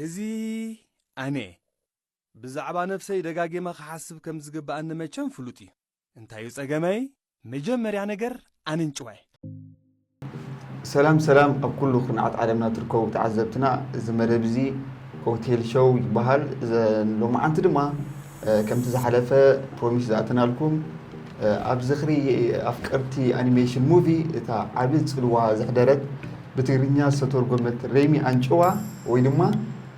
እዚ ኣነ ብዛዕባ ነፍሰይ ደጋጊመ ክሓስብ ከም ዝግብኣኒ መቸም ፍሉጥ እዩ። እንታይ እዩ ጸገመይ? መጀመርያ ነገር ኣንጭዋይ። ሰላም ሰላም ኣብ ኩሉ ኩርናዓት ዓለምና ትርከቡ ተዓዘብትና እዚ መደብ እዚ ሆቴል ሾው ይበሃል ሎማዓንቲ ድማ ከምቲ ዝሓለፈ ፕሮሚስ ዝኣተናልኩም ኣብ ዝኽሪ ኣፍቀርቲ ኣኒሜሽን ሙቪ እታ ዓቢ ጽልዋ ዘሕደረት ብትግርኛ ዝተተርጎመት ሬሚ ኣንጭዋ ወይ ድማ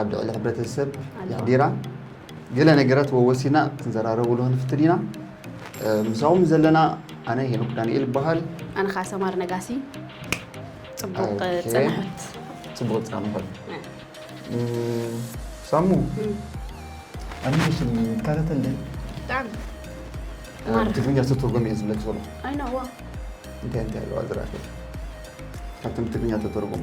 ኣብ ልዕሊ ሕብረተሰብ የሕዲራ ገለ ነገራት ወወሲና ክንዘራረብሉ ክንፍትን ኢና ምሳኹም ዘለና ኣነ ሄኖክ ዳንኤል ይበሃል ኣነ ከዓ ሰማር ነጋሲ ፅቡቅ ፅንሑት ፅቡቅ ፅንሑት ሳሙ ኣኒሜሽን ይከታተል ብጣዕሚ ትግርኛ ዝተተርጎመ እዩ ዝብለኪ ዘሎ እንታይ እንታይ ኣለዋ ዝረኣኺ ካብቶም ትግርኛ ተተርጎሙ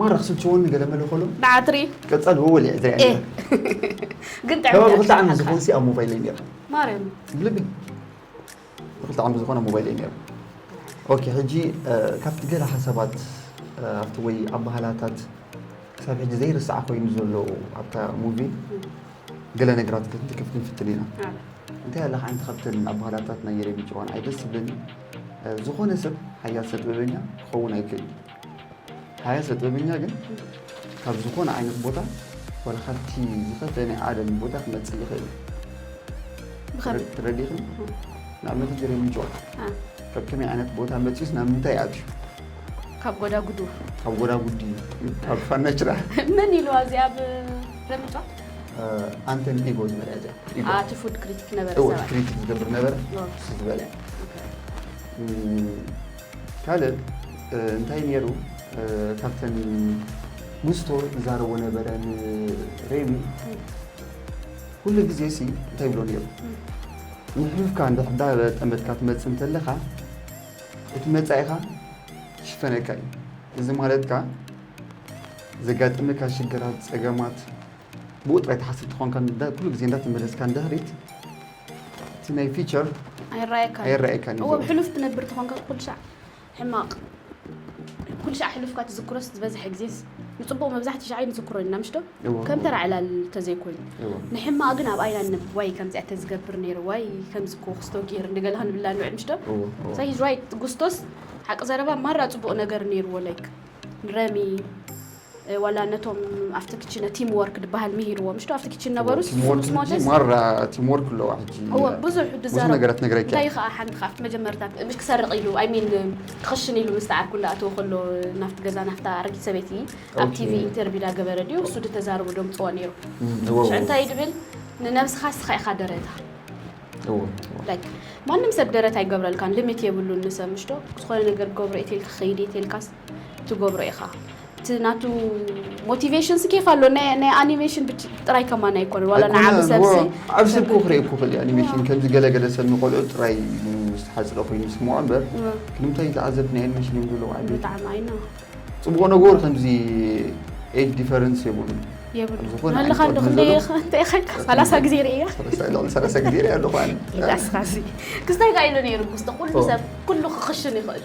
ማራ ክስልችወኒ ገለ መለ ከሎ ብዓትሪ ቀጸል ወወል እየ ዝሪኣ ነይረ ግን ጥዕምቲ ከባቢ ክልተ ዓመት ኣሸሓትካ። ዝኾንሲ ኣብ ሞባይለይ ነይረ ማርያም ብልቢ ክልተ ዓመት ዝኾነ ኣብ ሞባይለይ ነይረ ኦኬ ሕጂ እ፣ ካብቲ ገለ ሓሳባት እ፣ ኣብቲ ወይ ኣበሃላታት ክሳብ ሕጂ ዘይርስዓ ኮይኑ ዘሎ ኣብታ ሙቪ ገለ ነገራት ክፍት- ክፍት ንፍትን ኢና ኣነ እንታይ ኣለ ሓንቲ ካብተን ኣበሃላታት ናይ የሬሚ ጭዋን ኣይ ደስ ዝብለኒ እ፣ ዝኾነ ሰብ ሓያል ሰጥበበኛ ክኸውን ኣይክእልን ሃያሰ ጥበበኛ ግን ካብ ዝኾነ ዓይነት ቦታ ዋላ ካብቲ ዝኸፍኤ ናይ ዓለም ቦታ ክመፅእ ይኽእል ብኸመይ ትረዲኽን ንኣብነት እዚ ሬሚ ጆን አ፣ ካብ ከመይ ዓይነት ቦታ መፅዩስ ናብ ምንታይ ኣትዩ ካብ ጎዳጉዱ ካብ ጎዳጉዲ ካብ ፋናችራ መን ኢልዋ እዚኣ ኣብ ረምጫ ኣንተን ኢጎ ዝበልያ እዚኣ ኢጎ ኣቲ ፉድ ክሪቲክ ነበረ እወ ሰብኣይ ክሪቲክ ዝገብር ነበረ እወ። ንሱ ዝበልያ ኦኬ። እም፣ ካልእ እንታይ ኔሩ ካብተን ንስቶ ዝዛረቦ ነበረ ንሬሚ ኩሉ ግዜ ሲ እንታይ ይብሎ ኔሩ ንሕሉፍካ እንድሕር ዳ ጠመትካ ትመጽእ እንተለኻ እቲ መጻኢኻ ክሽፈነካ እዩ እዚ ማለት ከኣ ዘጋጥመካ ሽግራት ጸገማት ብኡ ጥራይ ትሓስብ ተኾንካ ኩሉ ግዜ እንዳተመለስካ ንድሕሪት እቲ ናይ ፊቸር ኣይረኣየካን ኣይረኣየካን እዩ እወ ዘሎ። ብሕሉፍ ትነብር ተኾንካ ኩሉ ሻዕ ሕማቕ ኩሉ ሻዕ ሕሉፍካ ትዝክሮስ ዝበዝሐ ግዜስ ንጽቡቕ መብዛሕትኡ ሻዕ ኣይንዝክሮን ኢና ምሽዶ እወ፣ ከም እወ፣ ተራ ዕላል ተዘይኮይኑ እወ። ንሕማቕ ግን ኣብ ኣይና ንነብብ ዋይ ከምዚኣ ተዝገብር ነይረ ዋይ ከምዚ እኮ ክስቶ ጌር እንደገለ ክንብላ ንውዕል ምሽዶ እወ፣ እወ። ሶ ሂዝ ራይት ጉስቶስ ሓቂ ዘረባ ማራ ጽቡቕ ነገር ነይርዎ ላይክ ንረሚ ዋላ ነቶም ኣብቲ ክችነ ቲም ወርክ ድበሃል ምሂርዎም እሽዶ ኣብቲ ክችን ነበሩ ቲምወርክ ሕጂ ማራ ቲምወርክ ኣለዋ ሕጂ ብዙሕ ብዙሕ ነገራት ነግረኪ እንታይ ከኣ ሓንቲ ካብቲ መጀመርታ ምሽ ክሰርቕ ኢሉ ኣይ ሚን ክኽሽን ኢሉ ምስ ተዓርኩ እንዳኣተወ ከሎ ናፍቲ ገዛ ናፍታ ኣረጊት ሰበይቲ ኣብ ቲቪ ኢንተርቪው ዳገበረ ድዩ እሱ ድተዛርቡ ደምጽዎ ነይሩ ሽዑ እንታይ ድብል ንነብስኻ እስኻ ኢኻ ደረታ ማንም ሰብ ደረት ኣይገብረልካን ልሚት የብሉን ንሰብ ምሽዶ ዝኾነ ነገር ገብሮ ኢትልካ ከይዲ ኢትልካስ ትገብሮ ኢኻ እቲ ናቱ ሞቲቬሽን ሲ ኬፍ ኣሎ ናይ ኣኒሜሽን ጥራይ ከማን ኣይኮነን ዋላ ንዓብ ሰብሲ ዓብ ሰብ ክኡ ክርኢ ክኽእል እዩ ኣኒሜሽን ከምዚ ገለገለ ሰብ ንቆልዑ ጥራይ ዝተሓጽረ ኮይኑ ይስምዖ እምበር ክንምታይ ተዓዘብቲ ናይ ኣኒሜሽን እዮም ዘለዉ ዓቢ ብጣዕሚ ኣይና ጽቡቕ ነገሩ ከምዚ ኤጅ ዲፈረንስ የብሉ የብሉ ኣለኻ እንዶ ክንደይ እንታይ ኸንካ ሰላሳ ግዜ ርእያ ልዕሊ ሰላሳ ግዜ ርእያ ኣለኹ ኣነ ክስታይ ጋ ኢሉ ነይሩ ክስተ ኩሉ ሰብ ኩሉ ክኽሽን ይኽእል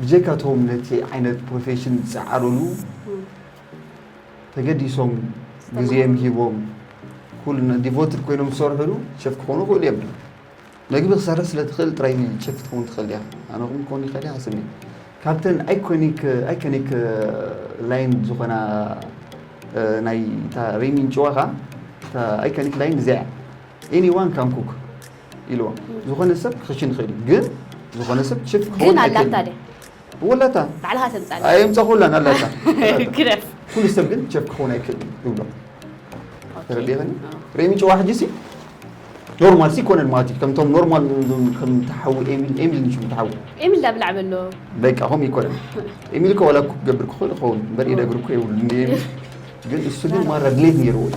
ብጀካ እቶም ነቲ ዓይነት ፕሮፌሽን ዝጸዓሩሉ ተገዲሶም ግዜም ሂቦም ኩሉ ዲቮትድ ኮይኖም ዝሰርሑሉ ሸፍ ክኾኑ ይኽእሉ እዮም ድዩ መግቢ ክሰርሕ ስለ ትኽእል ጥራይ ሸፍ ክትከውን ትኽእል ዲኻ ኣነ ኹም ክኸውን ይኽእል እየ ሓስብ ካብተን ኣይኮኒክ ኣይኮኒክ ላይን ዝኾና ናይ እታ ሪሚን ጭዋኻ እታ ኣይኮኒክ ላይን እዚኣ ኤኒ ዋን ካን ኩክ ኢልዋ ዝኾነ ሰብ ክኽሽን ይኽእል እዩ ግን ዝኾነ ሰብ ችፕ ክኸውን ግን ኣላታ ኣይክእልን ድያ ወላታ ባዕልኻ ተምጻለ ኣየምፀኹላን ኣላታ ግረፍ ኩሉ ሰብ ግን ቸፍ ክኸውን ኣይክእልን ይብሎ ተረዲኸኒ ርእሚ ጭዋ ሕጂ ሲ ኖርማል ሲ ኮነን ማለት እዩ ከምቶም ኖርማል ዞም ከም ተሓዊ ኤሚል ኤሚል ንሽም ተሓዊ ኤሚል ዳብ ላዕበ ኣሎ በቃ ከምኡ ይኮነን ኤሚል እኮ ዋላ እኮ ክገብር ክኽእል ይኸውን እምበር ኢደግር እኮ የብሉ እንደ ኤሚል ግን እሱ ግን ማራ ድሌት ነይርዎ እዩ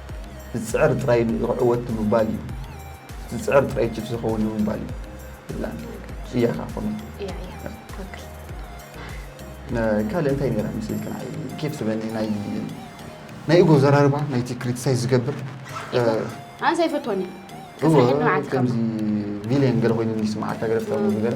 ዝጽዕር ጥራይ ንእግሪ ዕወት ንምባል እዩ ዝጽዕር ጥራይ ቺፍ ዝኸውን ንምባል እዩ ይብላ እያኻ ኮነ ካልእ እንታይ ነራ ምስልክ ናይ ኬፍ ዝበኒ ናይ ናይ እጎ ዘራርባ ናይቲ ክሪቲሳይ ዝገብር ኣንሳ ይፈትወኒ ከምዚ ቪሌን ገለ ኮይኑ ይስምዓካ ገለ ፍታዊ ገለ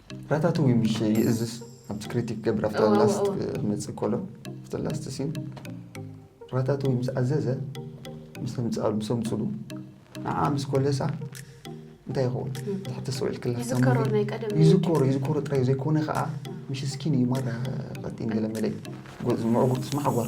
ራታቱዊ ምሽ ይእዝዝ ኣብቲ ክሪቲክ ገብር ኣብቲ እወ፣ እወ፣ ላስት እወ። ክመፅእ ከሎ ኣብቲ ላስት ሲን ራታቱዊ ምስ ኣዘዘ ምስ ተምፅኣ- ምስ ኣምፅሉ ንዓ ምስ ኮለሳ እንታይ ይኸውን ትሕቲ ሰውዒል ክላስ ይዝከሮ ናይ ቀደም ይዝከሮ ይዝከሮ ጥራይ ዘይኮነ ከዓ ምሽ ስኪን እዩ ማራ ቀጢን ገለ መለ እዩ ጎ- ምዕጉርትስ ማሓጓር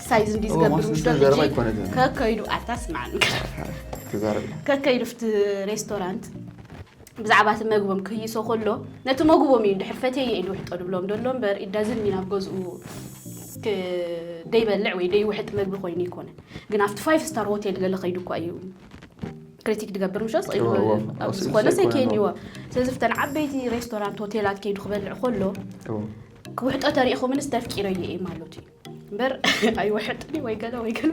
ሳይዝ እንዲ ዝገብር ምሽ ዶ ሕጂ ከከይዱ ኣታ ስማዕኒ ከከይዱ ፍቲ ሬስቶራንት ብዛዕባ እቲ መግቦም ክህይሶ ከሎ ነቲ መግቦም እዩ ድሕር ፈትየ ኢሉ ውሕጦ ድብሎም ደሎ እምበር ኢዳዝን ሚን ኣብ ገዝኡ ደይበልዕ ወይ ደይውሕጥ መግቢ ኮይኑ ይኮነ ግን ኣብቲ ፋይቭ ስታር ሆቴል ገለ ከይዱ እኳ እዩ ክሪቲክ ድገብር ምሸ ስኢሉኮነ ሰይከይኒዎ ስለዚ ፍተን ዓበይቲ ሬስቶራንት ሆቴላት ከይዱ ክበልዕ ከሎ ክውሕጦ ተሪኢኹምንስ ተፍቂረዮ እየ ማለት እዩ እምበር ኣይወሐጥን ወይ ገለ ወይ ገለ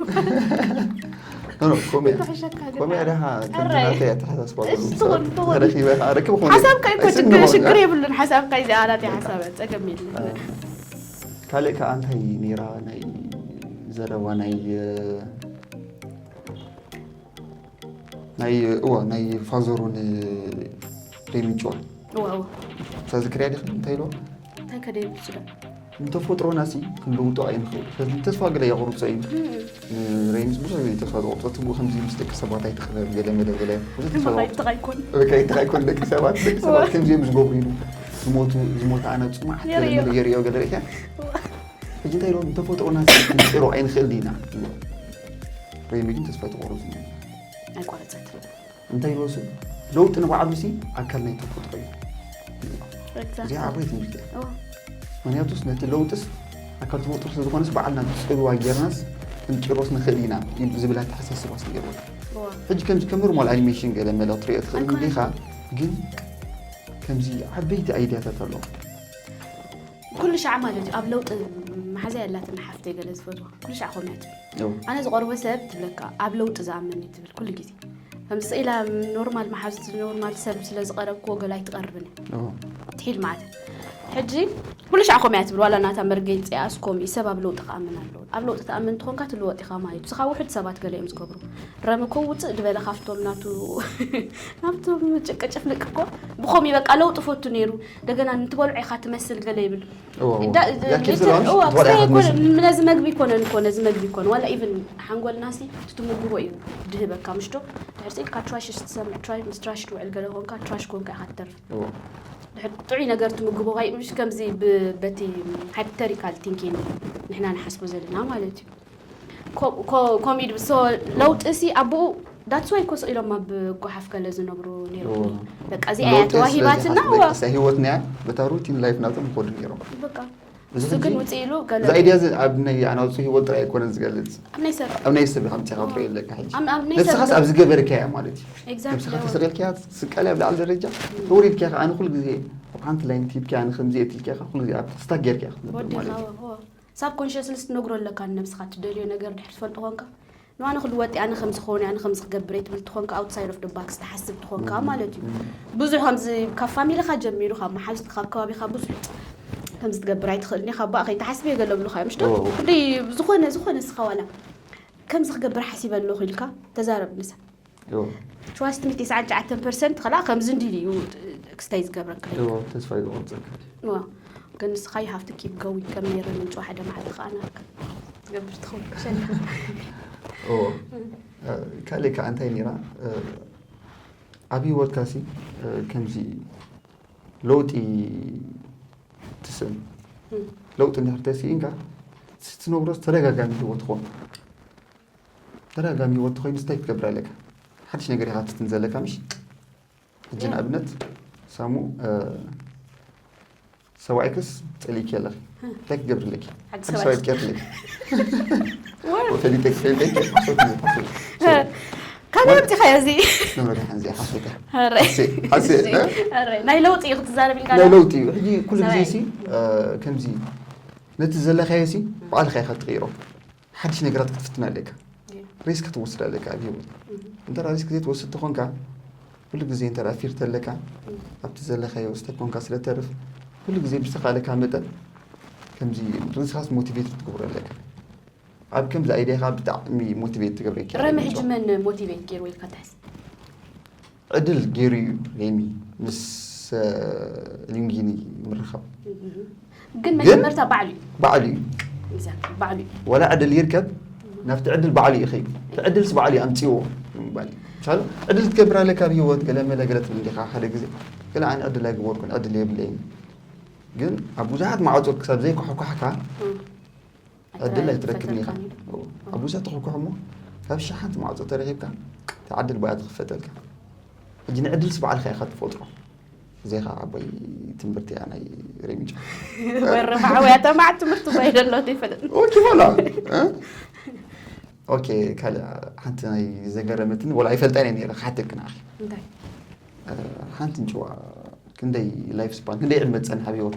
ሓሳብካ ይኮ ሽግር የብሉን ሓሳብካ እዚ ኣላት ሓሳብ ፀገም የለን ካልእ ከዓ እንታይ ነይራ ናይ ዘረባ ናይ ናይ እዋ ናይ ፋዘሩ ን ሌንጮን እወ እወ ተዝክርያ ዲኺ እንታይ ኢልዋ እንታይ ከደይ ብልፅዶ ንተፈጥሮናሲ ክንልውጦ ኣይንኽእል ስለዚ ተስፋ ገለ የቑርፆ እዩ ንሬንጅ ብዙሕ ግዜ ተስፋ ዝቑርፆ ትብኡ ከምዚ ምስ ደቂ ሰባት ኣይትኽበር ገለ መለ ገለ ብዙሕ ተስፋ ዝቑርፆ ይብትኽ ኣይኮን በቃ ይብትኽ ኣይኮን ደቂ ሰባት ደቂ ሰባት ከምዚኦም ዝገብሩ ኢሉ ዝሞቱ ዝሞተ ኣነ ፅኑዓት ገለ የርእዮ። መለ የርእዮ ገለ ርኢኻ ሕጂ እንታይ ኢሎም ንተፈጥሮና ክንፅሮ ኣይንኽእል ዲና ኢሎም ረይሚ ግን ተስፋ ኣይተቆረፁ ኣይቋረፀት እንታይ ኢሎ ስ ለውጢ ንባዕሉ ሲ ኣካል ናይ ተፈጥሮ እዩ እዚኣ ዓባይ ትምህርቲ እያ ምክንያቱስ ነቲ ለውጥስ ኣካል ተፈጥሮ ስለዝኾነስ በዓልና ብፅልዋ ጌርናስ ክንጭሮስ ንኽእል ኢና ዝብል ኣተሓሳስባ ስ ነይርዎ ሕጂ ከምዚ ከም ኖርማል ኣኒሜሽን ገለ መለ ክትሪኦ ትኽእል እንዲኻ ግን ከምዚ ዓበይቲ ኣይድያታት ኣለዎ ኩሉ ሻዕ ማለት እዩ ኣብ ለውጢ መሓዛ የላትን ሓፍተይ ገለ ዝፈትዋ ኩሉ ሻዕ ኮመንት ኣነ ዝቐርቦ ሰብ ትብለካ ኣብ ለውጢ ዝኣምን እዩ ትብል ኩሉ ግዜ ከምዚ ስኢላ ኖርማል መሓዙት ኖርማል ሰብ ስለ ዝቐረብክዎ ገለ ኣይትቐርብን ትሒድ ማለት ሕጂ ኩሉ ሻዕ ኮመያ ትብል ዋላ ናታ መርገፂ ኣስኮም እዩ ሰብ ኣብ ለውጢ ክኣምን ኣለዎ ኣብ ለውጢ ትኣምን እንትኾንካ ትልወጥ ኢኻ ማለት እዩ ስኻ ውሕድ ሰባት ገለ እዮም ዝገብሩ ረሚ ኮ ውፅእ ድበለ ካብቶም ናቱ ናብቶም ጭቅጭፍልቅ እኮ ብኸምኡ በቃ ለውጢ ፈቱ ነይሩ እንደገና ንትበልዖ ኢኻ ትመስል ገለ ይብል ነዚ መግቢ ይኮነን ኮ ነዚ መግቢ ይኮነ ዋላ ኢቨን ሓንጎልና ሲ ትትምግቦ እዩ ድህበካ ምሽዶ ድሕርሲ ኢልካ ትራሽ ስትሰምዕ ትራሽ ምስ ትራሽ ትውዕል ገለ ኮንካ ትራሽ ኮንካ ኢኻ ትተርፍ ድሕር ጥዑይ ነገር ትምግቦ ካይ ምሽ ከምዚ በቲ ሃይፕተሪካል ቲንኪን ንሕና ንሓስቦ ዘለና ማለት እዩ ኮምኢድ ብሶ ለውጢ ሲ ኣቡኡ ዳትስ ዋይ ኮ ስቂሎም ኣብ ጓሓፍ ገለ ዝነብሩ ነይሮም በቃ እዚኣ እያ ተዋሂባትና ህይወት ናያ በታ ሩቲን ላይፍ ናቶም ይኮዱ ነይሮም በቃ እዚ ግን ውፅእ ኢሉ ገለ እዚ ኣይድያ እዚ ኣብ ናይ ኣናውፅ ሂወት ጥራይ ኣይኮነን ዝገልፅ ኣብ ናይ ሰብ ኣብ ናይ ሰብ ኢኻ ምፅኻ ክትሪኦ ኣለካ ሕጂ ንስኻስ ኣብ ዝገበርካያ ማለት እዩ ንስኻ ተሰቂልካያ ትስቀል ኣብ ላዕሊ ደረጃ ተወሪድካ ኢኻ ኣነ ኩሉ ግዜ ኣብ ሓንቲ ላይን ሂብካያ ንከምዚ እትልካ ኢኻ ኩሉ ግዜ ኣብ ስታክ ጌርካ ክትነብር ማለት እዩ ሳብኮንሸስሊ ትነግሮ ኣለካ ንነብስካ ትደልዮ ነገር ድሕሪ ትፈልጦ ኮንካ ንዋ ንክሉ ወጢ ኣነ ከምዚ ክኮን ኣነ ከምዚ ክገብር እየ ትብል ትኮንካ ኣውትሳይድ ኦፍ ደ ባክስ ትሓስብ ትኮንካ ማለት እዩ ብዙሕ ከምዚ ካብ ፋሚሊካ ጀሚሩ ካብ መሓዙት ካብ ከባቢካ ብዙሕ ከምዚ ትገብር ኣይትኽእልን ኢኻ ባእ ከይትሓስብ እየ ገለ ብሉካ እዮም ሽዶ ክንደይ ዝኾነ ዝኾነ ስኻ ዋላ ከምዚ ክገብር ሓሲበ ኣለኹ ኢልካ ተዛረብ ምሳ ትዋስት ሚት ይስዓን ጨዓተን ፐርሰንት ከላ ከምዚ እንዲል እዩ ክስታይ ዝገብረካ ተስፋ ዝቆርፀካ ግን ንስኻ ይሃፍቲ ኪፕ ገዊ ከም ነረ ምንጭዋ ሓደ መዓልቲ ከዓ ናርካ ትገብር ትኸውን ካልእ ከዓ እንታይ ነራ ኣብ ሂወትካ ሲ ከምዚ ለውጢ ትስእን ለውጢ እንድሕር ተስኢንካ ትነብሮ ተደጋጋሚ ሂወት ትኾን ተዳጋሚ ሂወት ተኮይኑስ እንታይ ክትገብር ኣለካ ሓድሽ ነገር ኢካ ትፍትን ዘለካ ምሽ ሕጂ ንኣብነት ሳሙ ሰብኣይክስ ጸሊእኪ ኣለኺ እንታይ ክትገብሪ ኣለኪ ሓድሽ ሰብኣይ ክትቀርፊ ኣለኪ ፈሊጠ ፈሊጠ ካልእ ኣምፂኻዮ እዚ ንመድሓን እዚኣ ሓሶት እያ ናይ ለውጢ እዩ ክትዛረብ ኢልካ ናይ ለውጢ እዩ ሕጂ ኩሉ ግዜ ሲ ከምዚ ነቲ ዘለካዮ ሲ ባዕልካ ኢካ ትቕይሮ ሓድሽ ነገራት ክትፍትን ኣለካ ሪስክ ክትወስድ ኣለካ ኣብ ሂወት እንተ ሪስክ ዘይትወስድ ተኾንካ ኩሉ ግዜ እንተ ፊር ተለካ ኣብቲ ዘለካዮ ስተ ኮንካ ስለ ተርፍ ኩሉ ግዜ ብዝተኻለካ መጠን ከምዚ ርዝኻስ ሞቲቬት ክትገብሮ ኣለካ ኣብ ከምዚ ኣይዲያኻ ብጣዕሚ ሞቲቬት ትገብረ ረመ ሕጂ መን ሞቲቬት ገይሩ ኢልካ ትሕስብ ዕድል ገይሩ እዩ ሄሚ ምስ ሊንጊኒ ምርኻብ ግን መጀመርታ ባዕሉ እዩ ባዕሉ እዩ Exactly፣ ባዕሉ እዩ ወላ ዕድል ይርከብ ናብቲ ዕድል ባዕሉ እዩ ኸይዱ እቲ ዕድልስ ባዕሉ እዩ ኣምፅዎ ምባል እዩ። ምሳሉ ዕድል ትገብር ኣለካ ኣብ ሂወት ገለ መለ ገለ ትብል ዲኻ ሓደ ግዜ ገለ ኣነ ዕድል ኣይገበርኩን ዕድል የብለይን ግን ኣብ ብዙሓት ማዕፆ ክሳብ ዘይኳሕኳሕካ ዕድል ኣይትረክብን ኢኻ ኣብ ውሰ ትኽኩሕ እሞ ካብ ሸሓንቲ ማዕፆ ተረኺብካ ተዓድል ባያ ትኽፈተልካ ሕጂ ንዕድልስ በዓልካ ኢኻ ትፈጥሮ እዚኻ ዓባይ ትምህርቲ እያ ናይ ሬሚጫ ወረፋዕውያ ተማዕ ትምህርቲ ባይ ደሎ ይፈልጥ ኦኬ ሆላ ኦኬ ካልእ ሓንቲ ናይ ዘገረመትኒ ወላ ኣይፈልጣን እየ ነረ ክሓተልክ ንዓኺ ሓንቲ ንጭዋ ክንደይ ላይፍ ስፓን ክንደይ ዕድመ ትፀንሕ ኣብ ሂወት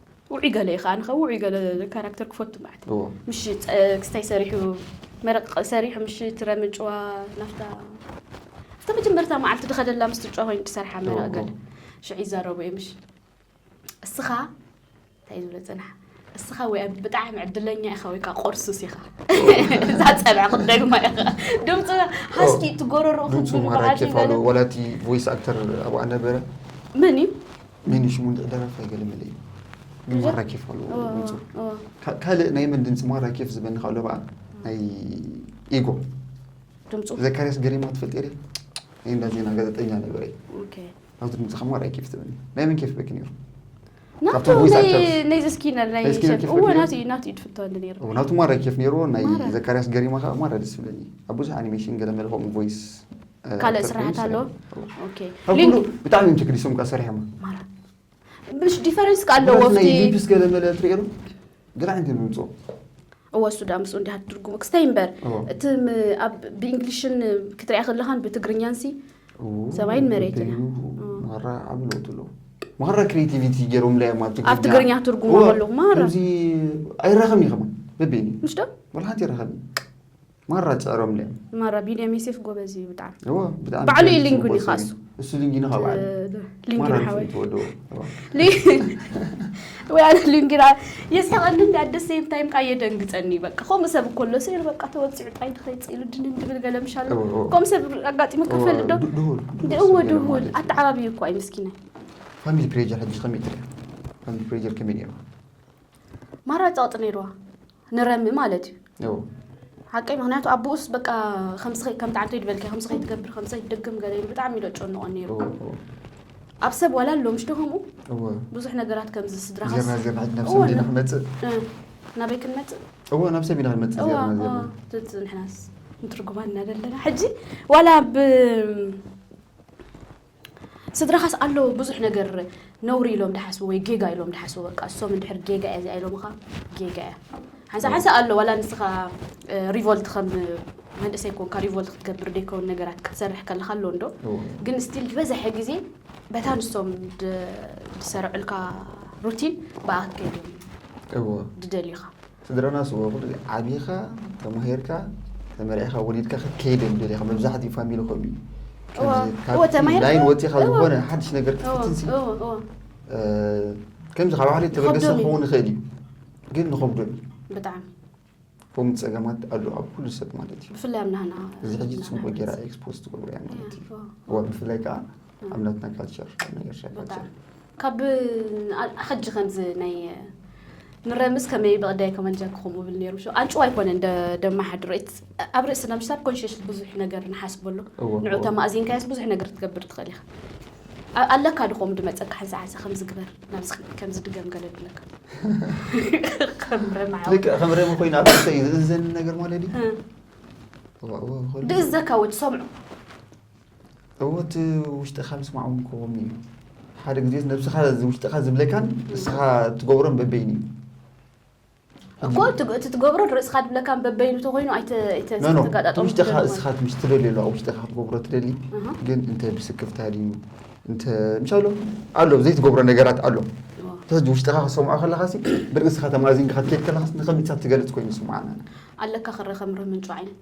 ውዑይ ገለ ኢኻ ኣነ ከ ውዑይ ገለ ካራክተር ክፈቱ ማለት ምሽ ክስታይ ሰሪሑ መረቅ ሰሪሑ ምሽ ትረምጭዋ ናፍታ እታ መጀመርታ መዓልቲ ድኸደላ ምስ ትጫ ኮይኑ ትሰርሓ መረቅ ገለ ሽዑ ይዛረቡ እየ ምሽ እስኻ እንታይ ዝብለ ፅናሕ እስኻ ወይ ብጣዕሚ ዕድለኛ ኢኻ ወይ ከዓ ቆርሱስ ኢኻ እዛ ፀብዐ ክትደግማ ኢኻ ድምፂ ሃስኪ እትጎረሮ ክትብሉ በዓል ወላቲ ቮይስ ኣክተር ኣብኣ ነበረ መን እዩ መን እዩ ሽሙ እንድዒ ደራፋይ ገለ መለ እዩ ማራ ኬፍ ኣለዎ ድምፁ ካልእ ናይ መን ድምፂ ማራ ኬፍ ዝበኒ ካብ ለበኣ ናይ ኢጎ ድምፁ ዘካርያስ ገሪማ ትፈልጥ ሪ ናይ እንዳ ዜና ጋዜጠኛ ነበረ ናብቲ ድምፂ ካብ ማራ ኬፍ ትበኒ ናይ መን ኬፍ በኪ ነይሩ ናቱ ናይ ዘስኪነር ናይ እወ ናቱ እዩ ናቱ እዩ ድፍቶ እንዲ ነይሩ ናቱ ማራ ኬፍ ነይሩ ናይ ዘካርያስ ገሪማ ከዓ ማራ ደስ ይብለኒ ኣብ ብዙሕ ኣኒሜሽን ገለ መለ ከምኡ ቮይስ ካልእ ስራሕት ኣሎ ብጣዕሚ እዮም ተገዲሶም ካ ሰሪሖም ብሽ ዲፈረንስ ካ ኣለዎ ሊፕስ ገለ መለ ትሪኦ ገለ ዓይነት እዮም ዝምፅኦ እወ እሱ ዳ ምስኡ እንዲሃ ትርጉሙ ክስታይ እምበር እቲ ኣብ ብእንግሊሽን ክትሪያ ከለኻን ብትግርኛን ሲ ሰማይን መሬትን ማራ ዓብ ለውጢ ኣለዎ ማራ ክሬቲቪቲ ገይሮም ላዮም ኣብ ትግርኛ ትርጉሙ ከለኹ ማራ ከምዚ ኣይራኸብን እዩ ከማ በቤኒ ምሽ ዶ ወላ ሓንቲ ይራኸብን ማራ ጸዕሮም ድዮም ማራ ቢንያም ዮሴፍ ጎበዝ እዩ ብጣዕሚ እዎ ብጣዕሚ ባዕሉ እዩ ሊንጉኒ ጽቡቅ ካሱ። ሰብ እዩ። እሱ ሊንጊኒ ካብ ዓለ ሊንግን ማራ ሓወይ ንሱ ተወደዎ ወይ ኣነ ሊንግን የሳቐኒ እንዲ ኣደ ሴም ታይም ከዓ የደንግጸኒ እዩ በቃ ከምኡ ሰብ እኮ ኣሎ ስኢሉ በቃ ተወጺዑ ጣይዱ ከይጽእ ኢሉ ድንን ድብል ገለ ምሽ ኣሎ እዎ፣ እዎ። ከምኡ ሰብ ኣጋጢሙ ክፈልጥ ዶ ዱ- ድሁል እዎ ገለ ድሁል ማለት እዩ። ኣተዓባብዩ እኮ ኣይ ምስኪናይ ፋሚሊ ፕሬጀር ሕጂ ከመይ ትሪኦ ፋሚሊ ፕሬጀር ከመይ ነይሩ ማራ ጸቕጢ ነይርዋ ንረሚ ማለት እዩ ሓቀይ ምክንያቱ ኣቦኡስ በቃ ከምዚ ከም ጣዕንቶ ይድበልከ ከምዚ ከይትገብር ከምዚ ከይትድግም ገለ ኢሉ ብጣዕሚ ኢሎ ጨንቆ ነይሩ ኣብ ሰብ ዋላ ኣሎ ምሽዶ ከምኡ ብዙሕ ነገራት ከምዚ ስድራኻስክመፅእ ናበይ ክንመፅእ እዎ ናብ ሰብ ኢና ክንመፅእ ዝዚ ንሕናስ ንትርጉማ እናደለና ሕጂ ዋላ ብ ስድራኻስ ኣሎ ብዙሕ ነገር ነውሪ ኢሎም ድሓስቡ ወይ ጌጋ ኢሎም ድሓስቡ በቃ እሶም እንድሕር ጌጋ እያ እዚኣ ኢሎምኻ ጌጋ እያ ሓንሳ ሓንሳ ኣሎ ዋላ ንስኻ ሪቮልት ከም መንእሰይ ኮንካ ሪቮልት ክትገብር ደይከውን ነገራት ክትሰርሕ ከለካ ኣሎ እንዶ ግን ስቲል ዝበዝሐ ግዜ በታ ንሶም ዝሰርዕልካ ሩቲን ብኣ ክትከይድ እዮም ድደልዩኻ ስድራና ስወ ኩሉ ግዜ ዓቢኻ ተማሂርካ ተመርዒኻ ወሊድካ ክትከይድ እዮም ደልኻ መብዛሕትኡ ፋሚሊ ከምኡ እዩ እወ፣ ከምዚ እወ፣ ካብ ተማሂርካ- ላይን ወፂኻ እወ፣ ዝኾነ ሓድሽ ነገር እወ፣ ክትፍትንሲ እወ፣ እወ። እ፣ ከምዚ ካብ ባዕለይ ተበገሰ ይኸብዶም እዩ። ክኸውን ይኽእል እዩ ግን ንኸብዶም እዩ ብጣዕሚ ከምኡ ፀገማት ኣሎ ኣብ ኩሉ ሰብ ማለት እዩ ብፍላይ ኣብ ናህና እዚ ሕጂ ፅቡቅ ጌራ ኤክስፖዝ ትገብሮ እያ ማለት እዩ እወ፣ እወ። እወ ብፍላይ ከዓ ኣምላትና ካልቸር ናይ ኤርትራ ካልቸር ካብ ሕጂ ከምዚ ናይ ንረምስ ከመይ ብቕዳይ ከመን ጀክኹም ብል ነይሩ ሸ ኣንጭዋ ኣይኮነ እንደ ደማሓድሮ ኣብ ርእስና ምስ ኣብ ኮንሸስ ብዙሕ ነገር ንሓስበሉ ንዑ ተማእዚንካየስ ብዙሕ ነገር ትገብር ትኽእል ኢኻ ኣለካ ድኾም ድመፀካ ሓንሳ ሓንሳ ከምዝግበር ናብዚ ከምዚ ድገም ገለ ድለካ ከም ረም ኮይኑ ኣብ ርእሰ እዩ ዝእዘን ነገር ማለት እዩ ድእዘካ ወ ትሰምዑ እወት ውሽጥኻ ምስማዕ እውን ክኸውን እዩ ሓደ ግዜ ነብስኻ ውሽጥኻ ዝብለካን ንስኻ ትገብሮን በበይን እዩ እኮ እቲ ትገብሮ ርእስኻ ድብለካ በበይኑ ተኮይኑ ኣይተጋጣጠሙውሽጥኻ እስኻ ምስ ትደልዮ ኣለዋ ውሽጥኻ ክትገብሮ ትደሊ ግን እንተ ብስክፍታ ድዩ እንተ ምሳሎ ኣሎ ዘይትገብሮ ነገራት ኣሎ ተዚ ውሽጥኻ ክሰምዖ ከለካ ሲ ብርእስኻ ተማዚንካ ክትከድ ከለካ ንከምኢትሳብ ትገልፅ ኮይኑ ስምዓና ኣለካ ክረ ከምሪ ምንጩ ዓይነት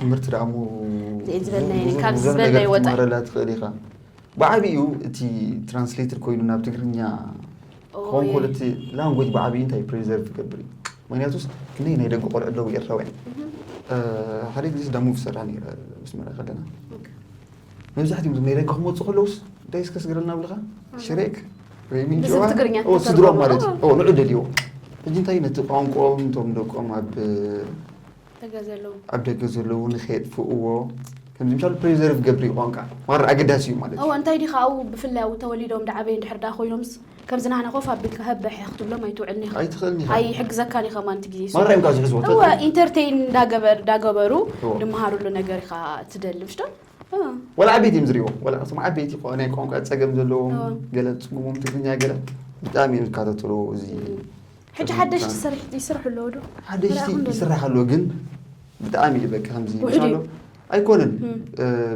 ትምህርቲ ዳኣ እሞ ክትመሃረላ ትኽእል ኢኻ ብዓብኡ እቲ ትራንስሌትድ ኮይኑ ናብ ትግርኛ ክኾን ከሎ እቲ ላንጎጅ ብዓብኡ እንታይ ፕሬዘር ትገብር እዩ ምክንያቱ ክንደይ ናይ ደቂ ቆልዑ ኣለዉ ኤርትራውያን ሓደ ግዜ ስዳሙ ዝሰራ ነረ ምስ መራ ከለና መብዛሕትኦም ናይ ደቂ ክመፁ ከለውስ እንታይ እስከ ስግረልና ብልኻ ሽሬክ ወይ ምንጭዋ ስድሮም ማለት እዩ ንዑ ደልዎ ሕጂ እንታይ ነቲ ቋንቋኦም እቶም ደቆም ኣብ ኣብ ደገ ዘለዉ ንከየጥፍእዎ ከምዚ ምሻሉ ፕሪዘርቭ ገብሪ ቋንቃ ማራ ኣገዳሲ እዩ ማለት እወ እንታይ ዲኻ ኣብኡ ብፍላይ ኣብኡ ተወሊዶም ድዓበዩ እንድሕር ድኣ ኮይኖምስ ከምዚ ናህና ኮፍ ኣቢልካ ህብ ብሕ ክትብሎም ኣይትውዕልን ኢኻ ኣይትኽእልን ኢኻ ኣይሕግዘካን ኢኻ ማንቲ ግዜ ማራ እዮም ካብ ዝሕዝዎ እወ ኢንተርቴይን እንዳገበር ዳገበሩ ድመሃርሉ ነገር ኢኻ ትደሊ ምሽ ዶ ወላ ዓበይቲ እዮም ዝሪእዎ ወላ እቶም ዓበይቲ ናይ ቋንቋ ፀገም ዘለዎም ገለ ፅጉሞም ትግርኛ ገለ ብጣዕሚ እዮም ዝከታተልዎ እዚ ሕጂ ሓደሽቲ ሰሪሕቲ ይስርሑ ኣለዉ ዶ? ሓደሽቲ ይስራሕ ኣሎ ግን ብጣዕሚ እዩ በቃ ከምዚ ኣሎ ኣይኮነን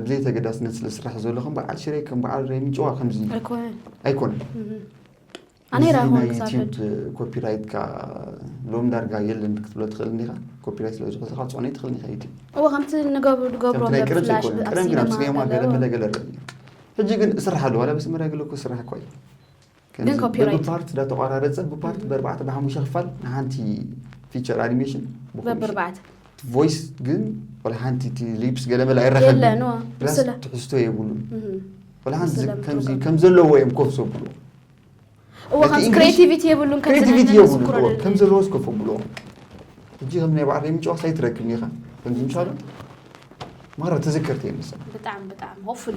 ብዘይ ተገዳስነት ስለ ዝስራሕ ዘሎ ከም በዓል ሽረ ከም በዓል ሬምጭዋ ከምዚ ኣይኮነን ናይ ዩቲዩብ ኮፒራይት ካ ሎም ዳርጋ የለን ክትብሎ ትኽእል እንዲኻ ኮፒራይት ስለ ዝኾነ ካ ፅዕነ ትኽእል ኢኻ ዩቲዩብ እዎ ከምቲ ንገብሩ ዝገብሮ ናይ ቅርብ ዘይኮነ ቅረም ግን ኣብ ሲኔማ ገለ መለ ገለ ሕጂ ግን እስራሕ ኣለዋ ላ ብስመራ ገለ እኮ ስራሕ እኳ እዩ ግን ኮፒራይት ብፓርት ዳ ተቋራረጸ ብፓርት በርባዕተ ብሓሙሽተ ክፋል ንሓንቲ ፊቸር ኣኒሜሽን በብርባዕተ ቮይስ ግን ወላ ሓንቲ እቲ ሊፕስ ገለ መለ ኣይራኸብን የለን ዋ ፕላስ ምስለ ትሕዝቶ የብሉን ወላ ሓንቲ ምስለ ከምዚ ምትወቀ ከም ዘለዎ እዮም ኮፍ ዘብሉ እዎ ነቲ ከምዚ English- ክሬቲቪቲ የብሉን ከምዚ ናይ ክሬቲቪቲ የብሉ ነንስኩሮ እዎ ከም ዘለዎ ስኮፍ ኣብሉ ሕጂ ከም ናይ በዓል ምጭዋስ ኣይትረክብን ኢኻ ከምዚ ምሻሉ ማራ ተዘከርቲ እዮም መሰለኝ ብጣዕሚ ብጣዕሚ ሆፕፉሊ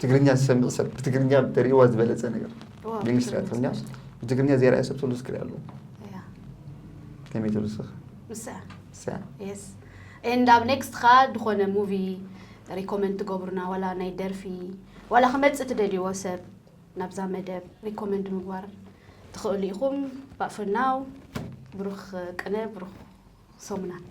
ትግርኛ ዝሰምዕ ሰብ ብትግርኛ ተርእዋ ዝበለፀ ነገር ብእንግሊሽ ርያ ትግርኛ ብትግርኛ ዘይርኣየ ሰብ ተሉ ዝክሪ ኣለዎ ከመይ ተሉ ስኽ ንድ ኣብ ኔክስት ካ ድኾነ ሙቪ ሪኮመንድ ትገብሩና ዋላ ናይ ደርፊ ዋላ ክመፅእ ትደልይዎ ሰብ ናብዛ መደብ ሪኮመንድ ምግባር ትኽእሉ ኢኹም ባእፍናው ብሩኽ ቅነ ብሩኽ ሰሙናት